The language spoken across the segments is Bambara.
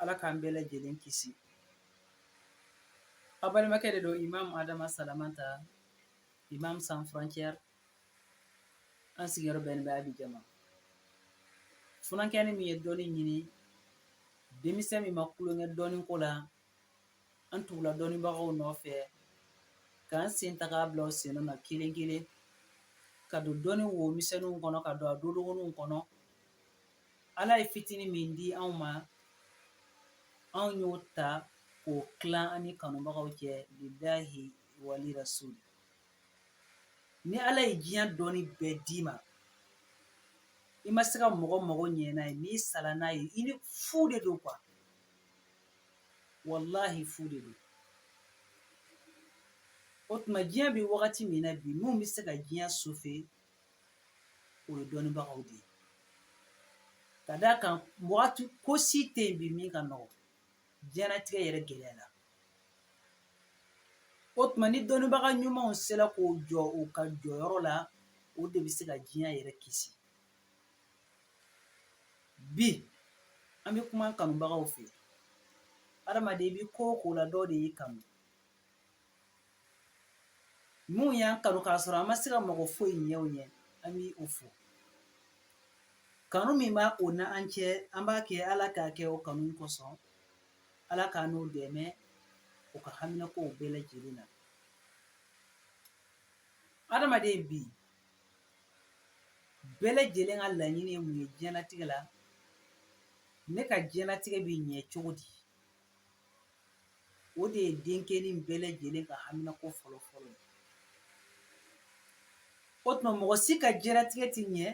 Ala k'an bɛɛ lajɛlen kisi a balimakɛ de don Imam Adama Salamanta Imam Sans Frontières an sigiyɔrɔ bɛnnen bɛ Abidjan ma funankɛnin min ye dɔnni ɲini denmisɛn min ma kulonkɛ dɔnni ko la an tugula dɔnnibagaw nɔfɛ k'an sen ta k'a bila u sen na kelen kelen ka don dɔnni wo misɛnninw kɔnɔ ka don a dodogoninw kɔnɔ Ala ye fitinin min di anw ma anw y'o ta k'o tilan an ni kanubagaw cɛ lillahi wali rasuli ni Ala ye diɲɛ dɔnni bɛɛ d'i ma i ma se ka mɔgɔ mago ɲɛ n'a ye n'i sala n'a ye i ni fu de don quoi walahi fu de don o tuma diɲɛ bɛ wagati min na bi mun bɛ se ka diɲɛ sauver o ye dɔnnibagaw de ye ka d'a kan wagati ko si tɛ yen bi min ka nɔgɔ diɲɛnatigɛ yɛrɛ gɛlɛyala o tuma ni dɔnnibaga ɲumanw sera k'o jɔ u ka jɔyɔrɔ la o de bɛ se ka diɲɛ yɛrɛ kisi bi an bɛ kuma kanubagaw fɛ adamaden i bɛ ko o ko la dɔ de y'i kanu Minnu y'an kanu k'a sɔrɔ an ma se ka mɔgɔ foyi ɲɛ u ɲɛ an b'o fo kanu min b'o n'an cɛ an b'a kɛ ala k'a kɛ o kanu kosɔn ala k'an n'o dɛmɛ u ka haminakow bɛɛ lajɛlen na adamaden bi bɛɛ lajɛlen ka laɲini mun ye diɲɛnatigɛ la ne ka diɲɛnatigɛ bɛ ɲɛ cogo di O de ye denkɛnin bɛɛ lajɛlen ka haminako fɔlɔ fɔlɔ ye. O tuma mɔgɔ si ka diɲɛnatigɛ tɛ ɲɛ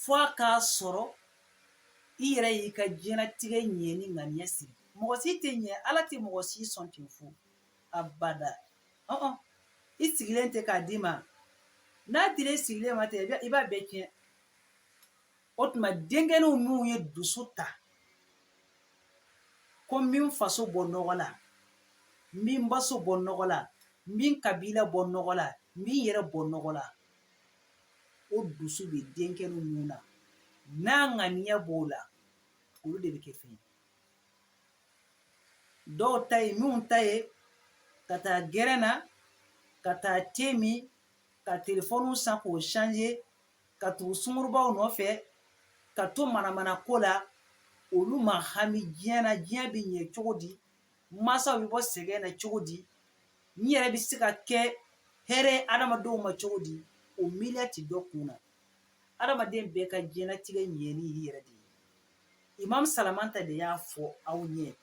fo a k'a sɔrɔ i yɛrɛ y'i ka diɲɛnatigɛ ɲɛni ŋaniya siri. Mɔgɔ si tɛ ɲɛ Ala tɛ mɔgɔ si sɔn ten fo abada. Ɔn-ɔn. i sigilen tɛ k'a d'i ma n'a dira i sigilen ma ten i b'a bɛɛ tiɲɛ o tuma denkɛninw minnu ye dusu ta ko n bɛ n faso bɔ nɔgɔ la n bɛ n baso bɔ nɔgɔ la n bɛ n kabila bɔ nɔgɔ la n bɛ n yɛrɛ bɔ nɔgɔ la o dusu bɛ denkɛninw minnu na n'a ŋaniya b'o la olu de bɛ kɛ fɛn ye dɔw ta ye minnu ta ye ka taa gɛrɛn na ka taa te min ka telefɔniw san k'o changer ka tugu sungurunbaw nɔfɛ ka to manamana ko la olu ma hami diɲɛ na diɲɛ bɛ ɲɛ cogo di mansaw bɛ bɔ sɛgɛn na cogo di n yɛrɛ bɛ se ka kɛ hɛrɛ adamadenw ma cogo di o miiriya tɛ dɔ kun na adamaden bɛɛ ka diɲɛnatigɛ ɲɛni y'i yɛrɛ de ye imam salamanta de y'a fɔ aw ɲɛ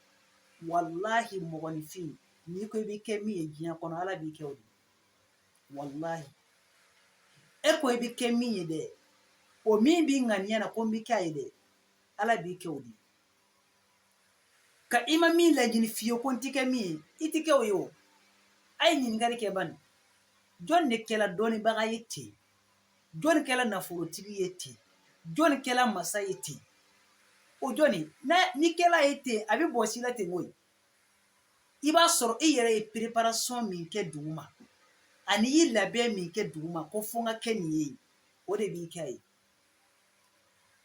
walahi mɔgɔninfin n'i ko i bɛ kɛ min ye diɲɛ kɔnɔ ala b'i kɛ o de walayi e ko i bɛ kɛ min ye dɛ o min b'i ŋaniya na ko n bɛ kɛ a ye dɛ ala b'i kɛ o de ka i ma min laɲini fiyewu ko n tɛ kɛ min ye i tɛ kɛ o ye o a ye ɲininkali kɛ bani jɔn de kɛla dɔnnibaga ye ten jɔn kɛla nafolotigi ye ten jɔn kɛla masa ye ten o jɔni n'i kɛla ye ten a bɛ bɔ si la ten koyi i b'a sɔrɔ i yɛrɛ ye pereparasɔn min kɛ dugu ma ani y'i labɛn min kɛ dugu ma ko fo ka kɛ nin ye o de b'i kɛ a ye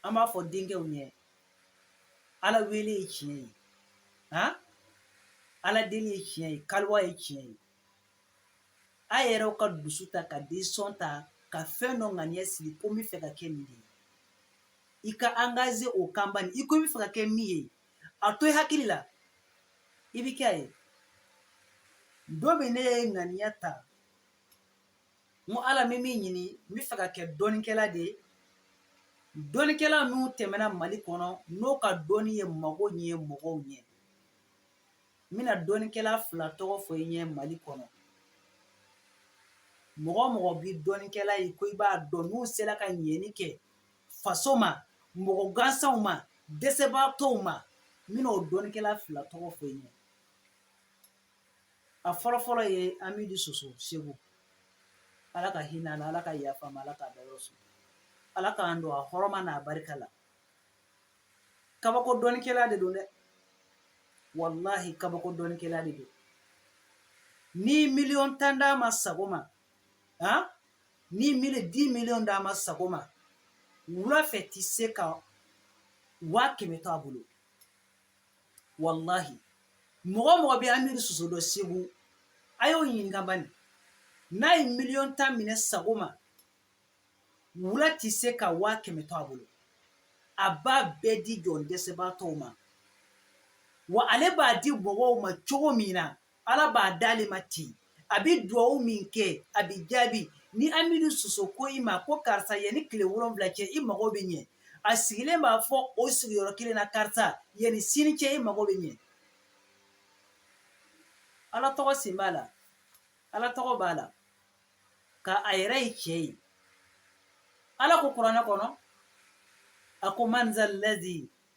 an b'a fɔ denkɛw ɲɛ ala wele ye tiɲɛ ye a ala deli ye tiɲɛ ye kaliwa ye tiɲɛ ye a yɛrɛw ka dusu ta ka desizɔn ta ka fɛn dɔ ŋaniya sigi ko n bɛ fɛ ka kɛ nin de ye i ka angaze o kan bani i ko n bɛ fɛ ka kɛ min ye a to i hakili la i bi kɛ a ye don min ne ye ŋaniya ta n ko ala n bɛ min ɲini n bɛ fɛ ka kɛ dɔnnikɛla de ye dɔnnikɛla minnu tɛmɛna mali kɔnɔ n'o ka dɔnni ye mago ɲɛ mɔgɔw ɲɛ n bɛna dɔnnikɛla fila tɔgɔ fɔ i ɲɛ mali kɔnɔ mɔgɔ o mɔgɔ bɛ dɔnnikɛla ye ko i b'a dɔn n'u sera ka ɲɛni kɛ faso ma mɔgɔ gansanw ma dɛsɛbaatɔw ma n bɛna o dɔnnikɛla fila tɔgɔ fɔ i ɲɛ a fɔlɔfɔlɔ ye amidu soso segu ala ka hinɛ a la ala ka yafa a ma ala k'a dayɔrɔ suma ala k'an don a hɔrɔma n'a barika la kabako dɔnnikɛla de don dɛ walahi kabako dɔnnikɛla de don ni miliyɔn tan d'a ma sɔgɔma han ni mili di miliyɔn d'a ma sɔgɔma wula fɛ ti se ka waa kɛmɛ to a bolo walahi mɔgɔ mɔgɔ bɛ amidu soso dɔn segu a y'o ɲininka bani n'a ye miliyɔn tan minɛ sɔgɔma wula ti se ka waa kɛmɛ to a bolo a b'a bɛɛ di jɔn dɛsɛbaatɔw ma wa ale b'a di mɔgɔw ma cogo min na ala b'a d'ale ma ten a bɛ dugawu min kɛ a bɛ jaabi ni amidu soso ko i ma ko karisa yanni tile wolonwula cɛ i mago bɛ ɲɛ a sigilen b'a fɔ o sigiyɔrɔ kelen na karisa yanni sini cɛ i mago bɛ ɲɛ ala tɔgɔ sen b'a la ala tɔgɔ b'a la ka a yɛrɛ ye cɛ ye ala ko kuranɛ kɔnɔ a ko man zallazi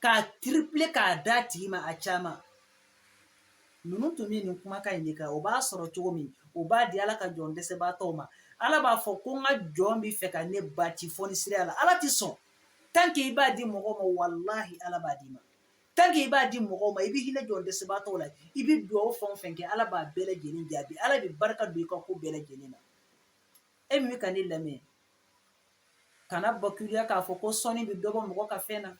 k'a tripler k'a d'a tigi ma a caman ninnu tun bɛ nin kumakan in de kan o b'a sɔrɔ cogo min o b'a di ala ka jɔn dɛsɛbaatɔw ma ala b'a fɔ ko n ka jɔn bɛ fɛ ka ne bati fɔnisiriya la ala tɛ sɔn tant que i b'a di mɔgɔw ma walahi ala b'a d'i ma tant que i b'a di mɔgɔw ma i bɛ hinɛ jɔn dɛsɛbaatɔw la i bɛ dugawu fɛn o fɛn kɛ ala b'a bɛɛ lajɛlen jaabi ala bɛ barika don i ka ko bɛɛ lajɛlen na e min bɛ ka ne lamɛn kana bakiliya k'a fɔ ko sɔnni bɛ dɔ bɔ mɔgɔ ka fɛn na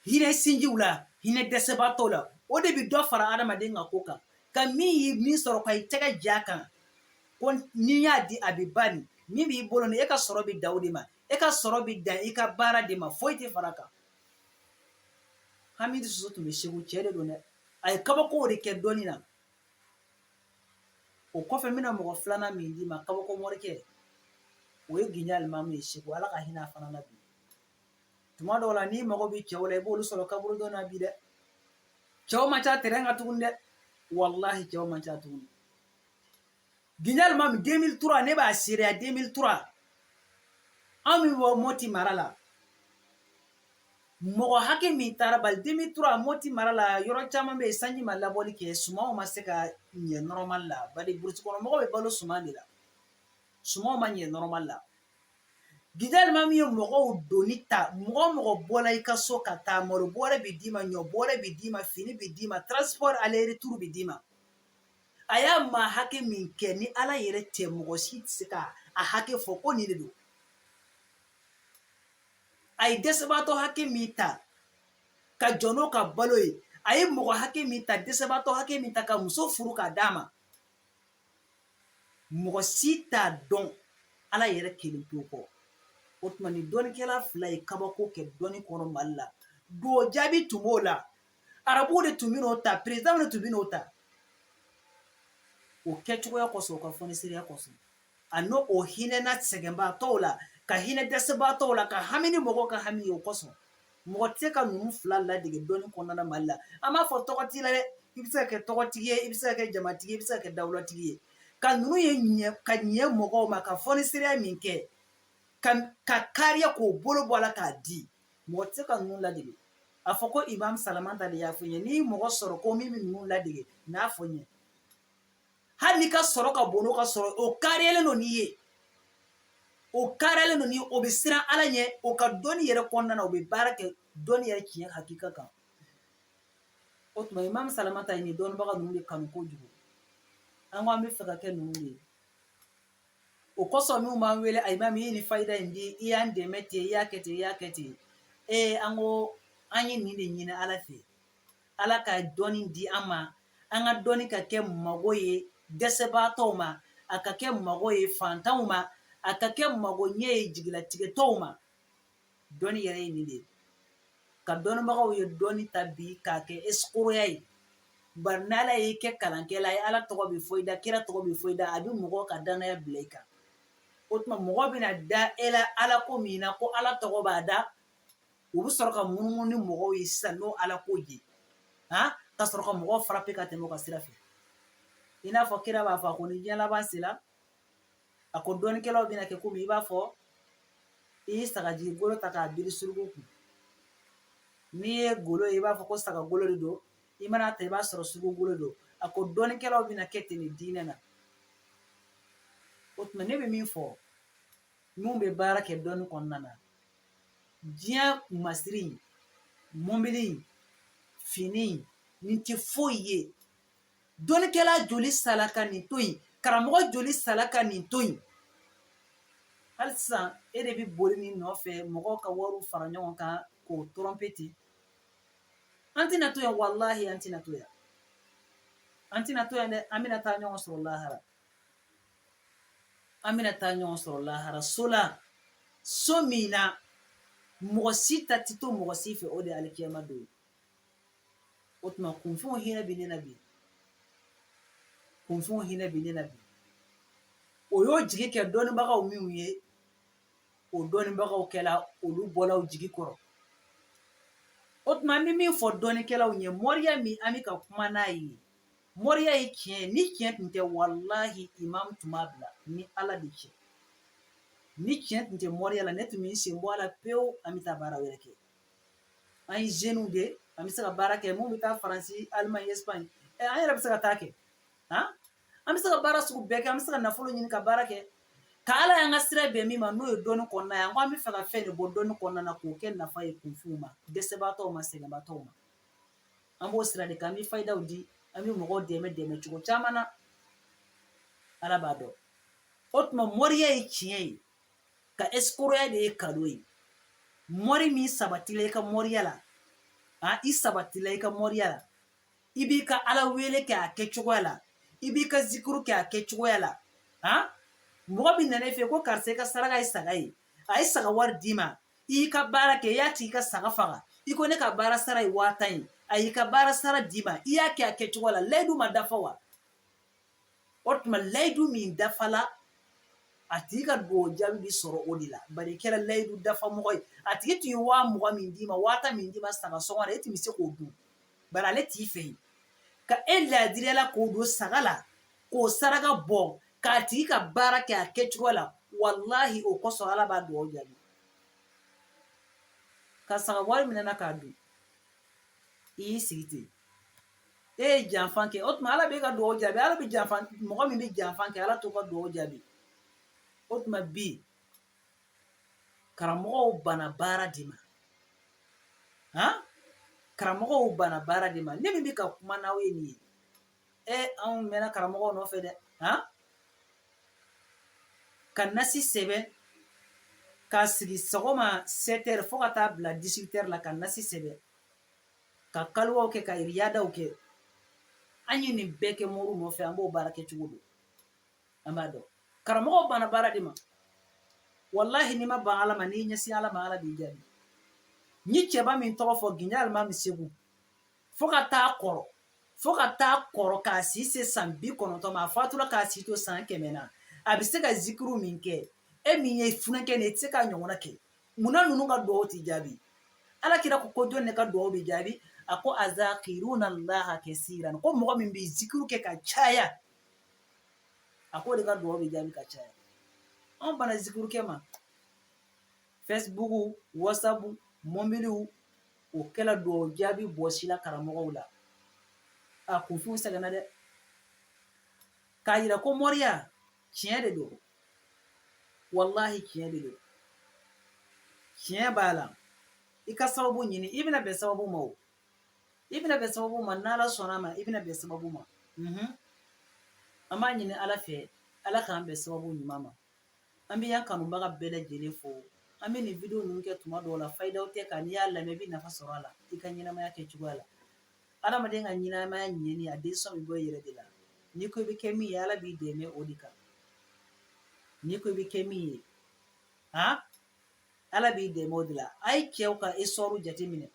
hinɛ sinjiw la hinɛ dɛsɛbaatɔw la o de bɛ dɔ fara adamaden ka ko kan ka min ye min sɔrɔ ka i tɛgɛ ja a kan ko n'i y'a di a bɛ ban nin min b'i bolo ni e ka sɔrɔ bɛ dan o de ma e ka sɔrɔ bɛ dan i ka baara de ma foyi tɛ fara a kan hamidu soso tun bɛ segu cɛ de don dɛ a ye kabakow de kɛ dɔnni na O kɔfɛ n bɛna mɔgɔ filanan min d'i ma kabako morikɛ o ye gijo alimamu ye segu ala ka hinɛ a fana na bi tuma dɔw la n'i mago bɛ cɛw la i b'olu sɔrɔ kaburudo na bi dɛ cɛw man ca tɛrɛn kan tuguni dɛ walahi cɛw man ca tuguni Gijo alimami 2003 ne b'a seereya 2003 an min bɔ moti mara la mɔgɔ hakɛ min taara bari 2003 moti mara la yɔrɔ caman bɛ yen sanji ma labɔli kɛ sumanw ma se ka ɲɛ nɔrɔmali la bari burusi kɔnɔ mɔgɔ bɛ balo suman de la sumanw ma ɲɛ nɔrɔmali la gijo alimami ye mɔgɔw doni ta mɔgɔ mɔgɔ bɔla i ka so ka taa malo bɔrɛ bɛ d'i ma ɲɔ bɔrɛ bɛ d'i ma fini bɛ d'i ma transport aller retour bɛ d'i ma a y'a maa hakɛ min kɛ ni ala yɛrɛ tɛ mɔgɔ si tɛ se ka a hakɛ fɔ ko nin de don a ye dɛsɛbaatɔ hakɛ min ta ka jɔ n'o ka balo ye a ye mɔgɔ hakɛ min ta dɛsɛbaatɔ hakɛ min ta ka muso furu k'a d'a ma mɔgɔ si t'a dɔn ala yɛrɛ kelen pewu kɔ o tuma nin dɔnnikɛla fila ye kabako kɛ dɔnni kɔnɔ mali la dugawu jaabi tun b'o la arabuw de tun bɛ n'o ta perezidanw de tun bɛ n'o ta o kɛcogoya kosɔn o ka fɔnisiriya kosɔn a n'o hinɛna sɛgɛnbaatɔw la ka hinɛ dɛsɛbaatɔw la ka hami ni mɔgɔw ka hami ye o kosɔn mɔgɔ tɛ se ka ninnu fila ladege dɔnni kɔnɔna na mali la an m'a fɔ tɔgɔ t'i la dɛ i bɛ se ka kɛ tɔgɔtigi ye i bɛ se ka kɛ jamatigi ye i bɛ se ka kɛ dawulatigi ye ka ninnu ye ka ɲɛ mɔgɔw ma ka fɔnisiriya min kɛ ka kariya k'o bolo bɔ a la k'a di mɔgɔ tɛ se ka ninnu ladege a fɔ ko imam salamata de y'a fɔ n ye n'i ye mɔgɔ sɔrɔ ko min bɛ ninnu ladege n'a fɔ n ye hali n'i ka sɔrɔ ka bon n'o ka sɔrɔ o kariyalen don n'i ye o kariyalen don n'i ye o bɛ siran ala ɲɛ o ka dɔnni yɛrɛ kɔnɔna na o bɛ baara kɛ dɔnni yɛrɛ tiɲɛ hakika kan o tuma imam salamata ye nin dɔnnibaga ninnu de kanu kojugu an ko an bɛ fɛ ka kɛ ninnu de ye o kosɔn n'u b'an wele a imam i ye nin fayida in di i y'an dɛmɛ ten i y'a kɛ ten i y'a kɛ ten ee an ko an ye nin de ɲini ala fɛ ala ka dɔnni di an ma an ka dɔnni ka kɛ mago ye dɛsɛbaatɔw ma a ka kɛ mago ye fantanw ma a ka kɛ mago ɲɛ ye jigilatigɛtɔw ma dɔnni yɛrɛ ye nin de ye ka dɔnnibagaw ye dɔnni ta bi k'a kɛ ɛsikoroya ye bari n'ala y'i kɛ kalankɛla ye ala tɔgɔ bɛ fɔ i da kira tɔgɔ bɛ fɔ i da a bɛ mɔgɔw ka dannaya bila i kan o tuma mɔgɔ bɛna da e la ala ko min na ko ala tɔgɔ b'a da u bɛ sɔrɔ ka munumunu ni mɔgɔw ye sisan n'o ala ko ye a ka sɔrɔ ka mɔgɔw farape ka tɛmɛ ka sira fɛ i n'a fɔ kira b'a fɔ ko ni diɲɛ laban sera a ko dɔnnikɛlaw bɛna kɛ komi i b'a fɔ i ye sagajigi golo ta k'a biri suruku kun n'i ye golo ye i b'a fɔ ko saga golo de don i mana ta i b'a sɔrɔ suruku golo don a ko dɔnnikɛlaw bɛna kɛ ten nin diinɛ na o tuma ne bɛ min fɔ minnu bɛ baara kɛ dɔnni kɔnɔna na diɲɛ masiri mɔbili fini nin tɛ foyi ye dɔnnikɛla joli sala ka nin to yen karamɔgɔ joli sala ka nin to yen hali sisan e de bɛ boli nin nɔfɛ mɔgɔw ka wariw fara ɲɔgɔn kan k'o tɔrɔnpe ten an tɛna to yan walahi an tɛna to yan an tɛna to yan dɛ an bɛna taa ɲɔgɔn sɔrɔ lahara an bɛna taa ɲɔgɔn sɔrɔ lahara so la so min na mɔgɔ si ta tɛ to mɔgɔ si fɛ o de ye alikiyama don ye o tuma kunfinw hinɛ bɛ ne na bi kunfinw hinɛ bɛ ne na bi o y'o jigi kɛ dɔnnibagaw minnu ye o dɔnnibagaw kɛla olu bɔla o jigi kɔrɔ o tuma an bɛ min fɔ dɔnnikɛlaw ye moriya min an bɛ ka kuma n'a ye moriya ye tiɲɛ ni tiɲɛ tun tɛ walahi imam tun b'a bila ni ala de cɛ ni tiɲɛ tun tɛ moriya la ne tun bɛ n sen bɔ a la pewu an bɛ taa baara wɛrɛ kɛ an ye zeniw de an bɛ se ka baara kɛ min bɛ taa faransi alimaɲi espagne ɛ an yɛrɛ bɛ se ka taa kɛ han an bɛ se ka baara sugu bɛɛ kɛ an bɛ se ka nafolo ɲini ka baara kɛ ka ala y'an ka sira bɛn min ma n'o ye dɔnni kɔnɔna ye an ko an bɛ fɛ ka fɛn de bɔ dɔnni kɔnɔna na k'o kɛ nafa ye kunfinw ma dɛsɛbaatɔw ma sɛgɛnbaatɔw ma an b'o sira de kan an bɛ fayidaw di an bɛ mɔgɔw dɛmɛ dɛmɛ cogo caman na ala b'a dɔn o tuma moriya ye tiɲɛ ye ka esikoroya de ye kalon ye mɔri min sabatila i ka mɔriya la a i sabatila i ka mɔriya la i b'i ka ala wele kɛ a kɛ cogoya la i b'i ka zikuru kɛ a kɛ cogoya la a mɔgɔ min nana i fɛ ko karisa i ka saraka ye saga ye a ye saga wari d'i ma i y'i ka baara kɛ i y'a tigi ka saga faga i ko ne ka baara sara ye waa tan ye a y'i ka baara sara d'i ma i y'a kɛ a kɛ cogoya la layidu ma dafa wa o tuma layidu min dafala a tigi ka dugawu jaabi bɛ sɔrɔ o de la bari i kɛra layidu dafa mɔgɔ ye a tigi tun ye waa mugan min d'i ma waa tan min d'i ma saga sɔngɔ la e tun bɛ se k'o dun bari ale t'i fɛ yen ka e ladiriya la k'o don saga la k'o saraka bɔ k'a tigi ka baara kɛ a kɛ cogo la walahi o kosɔn ala b'a dugawu jaabi ka saga wari minɛna k'a dun i y'i sigi ten e ye janfan kɛ o tuma ala b'e ka dugawu jaabi ala bɛ janfan mɔgɔ min bɛ janfan kɛ ala t'o ka dugawu jaabi o tuma bi karamɔgɔw banna baara de ma han karamɔgɔw banna baara de ma ne min bɛ ka kuma n'aw ye nin ye e anw mɛnna karamɔgɔw nɔfɛ dɛ han ka nasi sɛbɛn k'a sigi sɔgɔma 7 heures fo ka taa bila 18 heures la ka nasi sɛbɛn ka kaliwaw kɛ ka riyadaw kɛ an ye nin bɛɛ kɛ mɔriw nɔfɛ an b'o baara kɛ cogo dɔn an b'a dɔn karamɔgɔw banna baara de ma walahi n'i ma ban ala ma n'i ɲɛsin ala ma ala b'i jaabi n ye cɛba min tɔgɔ fɔ ginja alimami segu fo ka taa kɔrɔ fo ka taa kɔrɔ k'a si se san bi kɔnɔntɔn ma a fatura k'a si to san kɛmɛ na a bɛ se ka zikiru min kɛ e min ye funankɛnin i tɛ se k'a ɲɔgɔnna kɛ munna ninnu ka dugawu tɛ jaabi ala kira ko ko jɔn ne ka dugawu bɛ jaabi a ko azakiruna allaha kasiran ko mɔgɔ min bɛ zikuru kɛ ka caya a k'o de ka dugawu bɛ jaabi ka caya anw banna zikuru kɛ ma facebook whatsapp mobiliw o kɛla dugawu jaabi bɔsi la karamɔgɔw la a kunfinw sɛgɛnna dɛ k'a jira ko mɔriya tiɲɛ de don walahi tiɲɛ de don tiɲɛ b'a la i ka sababu ɲini i bɛna bɛn sababu ma o i bɛna bɛn sababu ma n'ala sɔnna ma i bɛna bɛn sababu ma mhm. an b'a ɲini ala fɛ ala k'an bɛn sababu ɲuman ma an bɛ yan kanubaga bɛɛ lajɛlen fo an bɛ nin video ninnu kɛ tuma dɔw la fayidaw tɛ nka n'i y'a lamɛn i bɛ nafa sɔrɔ a la i ka ɲɛnamaya kɛ cogoya la Adamaden ka ɲɛnamaya ɲɛni a décision bɛ bɔ i yɛrɛ de la n'i ko i bɛ kɛ min ye ala b'i dɛmɛ o de kan n'i ko i bɛ kɛ min ye han ala b'i dɛmɛ o de la a ye cɛw ka histoire jateminɛ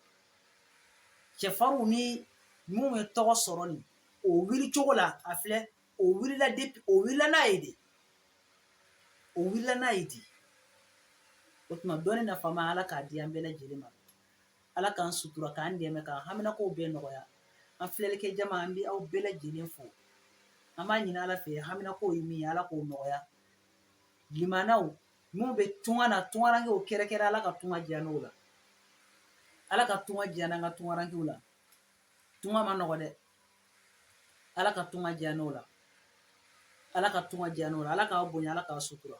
cɛfarinw ni minnu ye tɔgɔ sɔrɔ nin o wuli cogo la a filɛ o wulila de o wulila n'a ye de o wulila n'a ye de o tuma dɔnni nafama ala k'a di an bɛɛ lajɛlen ma Ala k'an sutura k'an dɛmɛ k'an haminakow bɛɛ nɔgɔya an filɛlikɛ jama an bɛ aw bɛɛ lajɛlen fo an b'a ɲini ala fɛ haminakow ye min ye ala k'o nɔgɔya balimaw minnu bɛ tunga na tungarankew kɛrɛnkɛrɛn ala ka tunga diya u la ala ka tunga diya an ka tungarankew la tunga ma nɔgɔ dɛ ala ka tunga diya u la ala ka tunga diya u la ala k'a bonya ala k'a sutura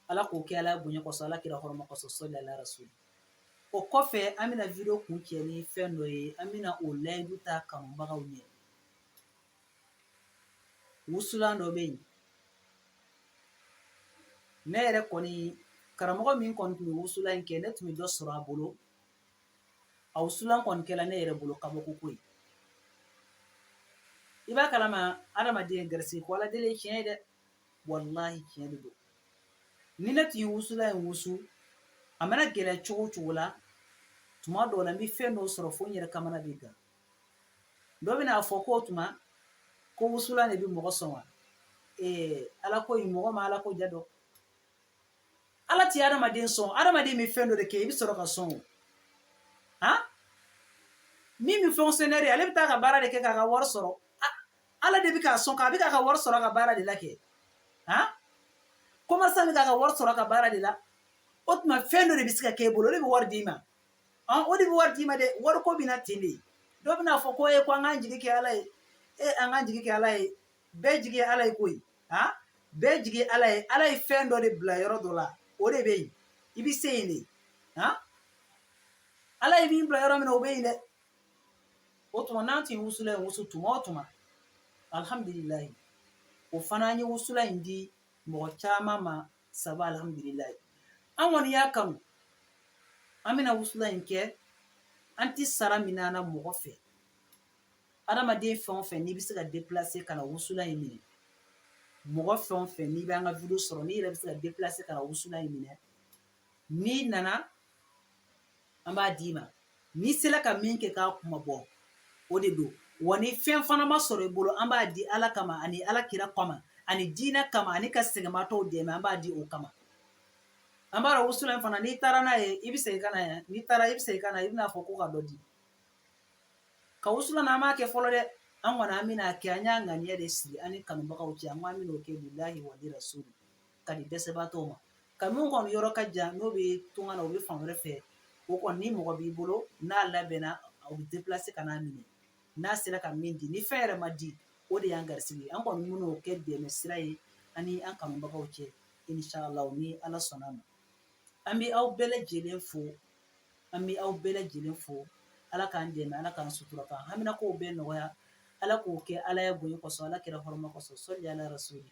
ala k'o kɛ ala bonya kɔsɔn ala kira hɔrɔma kɔsɔn sɔli alayhi wa sallam O kɔfɛ an bɛna video kuncɛ ni fɛn dɔ ye an bɛna o layidu ta kanubagaw ɲɛ wusulan dɔ bɛ yen ne yɛrɛ kɔni karamɔgɔ min kɔni tun bɛ wusulan in kɛ ne tun bɛ dɔ sɔrɔ a bolo a wusulan kɔni kɛla ne yɛrɛ bolo kabako ko ye i b'a kalama adamaden garisigɛ ko ala deli ye tiɲɛ ye dɛ walahi tiɲɛ de don ni ne tun ye wusulan in wusu a mana gɛlɛya cogo o cogo la tuma dɔw la n bɛ fɛn dɔw sɔrɔ fo n yɛrɛ kamana bɛ gan dɔ bɛna fɔ k'o tuma ko wusulan de bɛ mɔgɔ sɔn wa ee ala ko in mɔgɔ ma ala ko ja dɔn ala tɛ adamaden sɔn adamaden bɛ fɛn dɔ de kɛ i bɛ sɔrɔ ka sɔn o han min bɛ fonctionnaire ale bɛ taa ka baara de kɛ k'a ka wari sɔrɔ ala de bɛ k'a sɔn k'a bɛ k'a ka wari sɔrɔ a ka baara de la kɛ han commerçant bɛ k'a ka wari sɔrɔ a ka baara de la o tuma fɛn dɔ de bɛ se ka k'e bolo o de bɛ wari d'i ma ɔn o de bɛ wari d'i ma dɛ wari ko bɛ na ten de dɔ bɛna fɔ ko e ko an k'an jigi kɛ ala ye e an k'an jigi kɛ ala ye bɛɛ jigi ye ala ye koyi han bɛɛ jigi ye ala ye ala ye fɛn dɔ de bila yɔrɔ dɔ la o de bɛ yen i bɛ se yen de han ala ye min bila yɔrɔ min na o bɛ yen dɛ o tuma n'an tun ye wusulan in wusu tuma o tuma alhamdulilayi o fana an ye wusulan in di mɔgɔ caman ma sabu alhamdulilayi an kɔni y'a kanu an bɛna wusulan in kɛ an tɛ sara minɛ a na mɔgɔ fɛ adamaden fɛn o fɛn n'i bɛ se ka deplase ka na wusulan in minɛ mɔgɔ fɛn o fɛn n'i bɛ an ka video sɔrɔ n'i yɛrɛ bɛ se ka deplase ka na wusulan in minɛ n'i nana an b'a d'i ma n'i sera ka min kɛ k'a kuma bɔ o de don wa ni fɛn fana ma sɔrɔ i bolo an b'a di ala kama ani ala kira kama ani diinɛ kama ani ka sɛgɛnmatɔw dɛmɛ an b'a di o kama an b'a dɔn wusulan in fana n'i taara n'a ye i bɛ segin ka na yan n'i taara i bɛ segin ka na i bɛn'a fɔ ko ka dɔ di ka wusulan an m'a kɛ fɔlɔ dɛ an kɔni an bɛn'a kɛ an y'a ŋaniya de siri an ni kanubagaw cɛ an ko an bɛn'o kɛ lillahi wa li rasuli ka di dɛsɛbagatɔw ma ka min kɔni yɔrɔ ka jan n'o bɛ tunga na o bɛ fan wɛrɛ fɛ o kɔni ni mɔgɔ b'i bolo n'a labɛnna o bɛ déplacer ka n'a minɛ n'a sera ka min di ni fɛn yɛrɛ ma di o de y'an garisigɛ ye an kɔni bɛn'o kɛ dɛmɛ sira ye an ni an kanubagaw cɛ inshallah ni ala sɔnn'a ma an bɛ aw bɛɛ lajɛlen fo an bɛ aw bɛɛ lajɛlen fo ala k'an dɛmɛ ala k'an sutura k'an haminakow bɛɛ nɔgɔya ala k'o kɛ ala yɛrɛ bonya kɔsɔn ala kira hɔrɔma kɔsɔn sɔli ala yɛrɛ so ye